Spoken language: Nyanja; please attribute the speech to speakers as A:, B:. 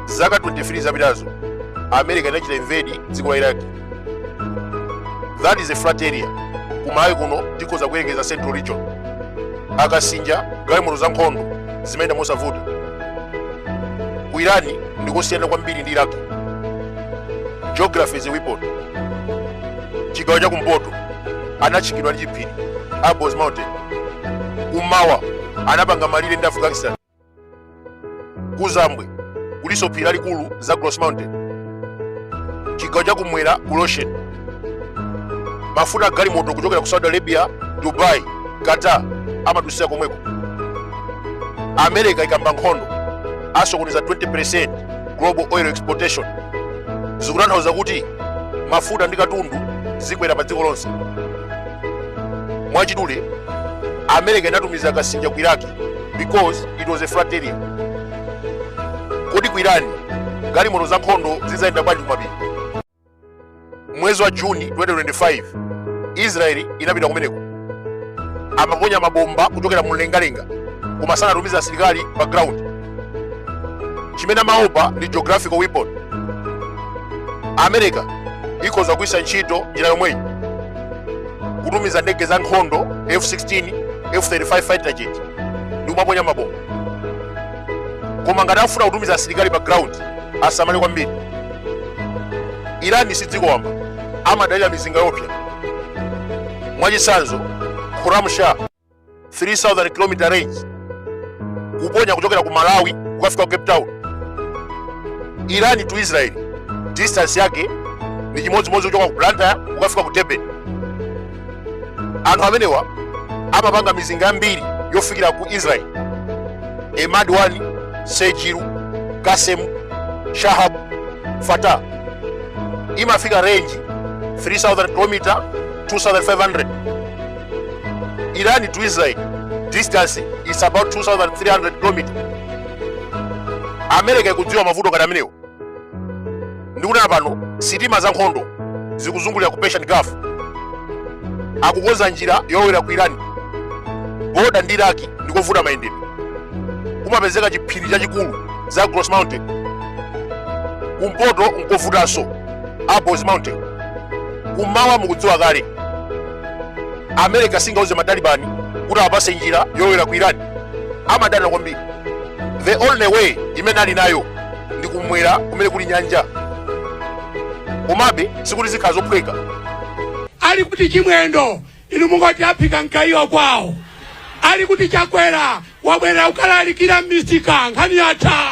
A: zaka 23 zapitazo america inachita invade dziko la iraq that is a flat area kumudzi kuno tikhoza kuyerekeza central region akasinja galimoto za nkhondo zimayenda mosavuta ku irani ndikosiyana kwambiri ndi iraq geography is a weapon chigawo cha kumpoto linatchingidwa ndi chiphiri Alborz Mountain kummawa anapanga malire ndi Afghanistan kuzambwe kuliso phiri lalikulu Zagros Mountain chigawo cha kumwera kuli ocean mafuta a galimoto kuchokera ku Saudi Arabia Dubai Qatar amadutsira komweko America ikayamba nkhondo asokoneza 20% global oil exportation zikutanthauza kuti mafuta ndi katundu zikwera pa dziko lonse mwachidule america inatumiza akasinja ku iraki because it was a flat area kodi ku irani galimoto za nkhondo zidzayenda bwanji kumapiri mwezi wa juni 2025 israeli inapita kumeneko amaponya mabomba kuchokera mu mlengalenga koma sanatumiza asilikali pa ground chimene amaopa ndi geographical weapon america ikhoza kugwiritsa ntchito njira yomweyi kutumiza ndege za nkhondo f16 f35 fighter jet ndi kumaponya mabomba koma ngati afuna kutumiza asilikali pa ground asamale kwambiri irani si dziko wamba amadalira mizinga yoopsa mwachitsanzo khorramshahr 3000 km range kuponya kuchokera ku malawi kukafika ku cape town irani to israel distance yake ndi chimodzimodzi kuchoka ku blantyre kukafika ku durban anthu amenewa amapanga mizinga yambiri yofikira ku israel emad 1 sejjil qasem shahab fattah imafika range 3000 km 2500 iran to israel distance is about 2300 km america ikudziwa mavuto ngati amenewo ndikunena pano sitima za nkhondo zikuzungulira ku persian gulf akukonza njira yolowera ku iran boda ndi iraki ndikovuta mayendedwe kumapezeka chiphiri chachikulu Zagros Mountain. Kumpoto nkovutanso Alborz Mountain. Kummawa mukudziwa kale. America singauze matalibani kuti apatse njira yolowera ku Iran. Amadana kwambiri. The only way imene ali nayo ndi kumwera kumene kuli nyanja. Komabe sikuti zikhala zophweka. ali
B: kuti chimwendo inu mungoti aphika mgayiwa kwawo ali kuti chakwera abwerere kukalalikira m'misika nkhani yatha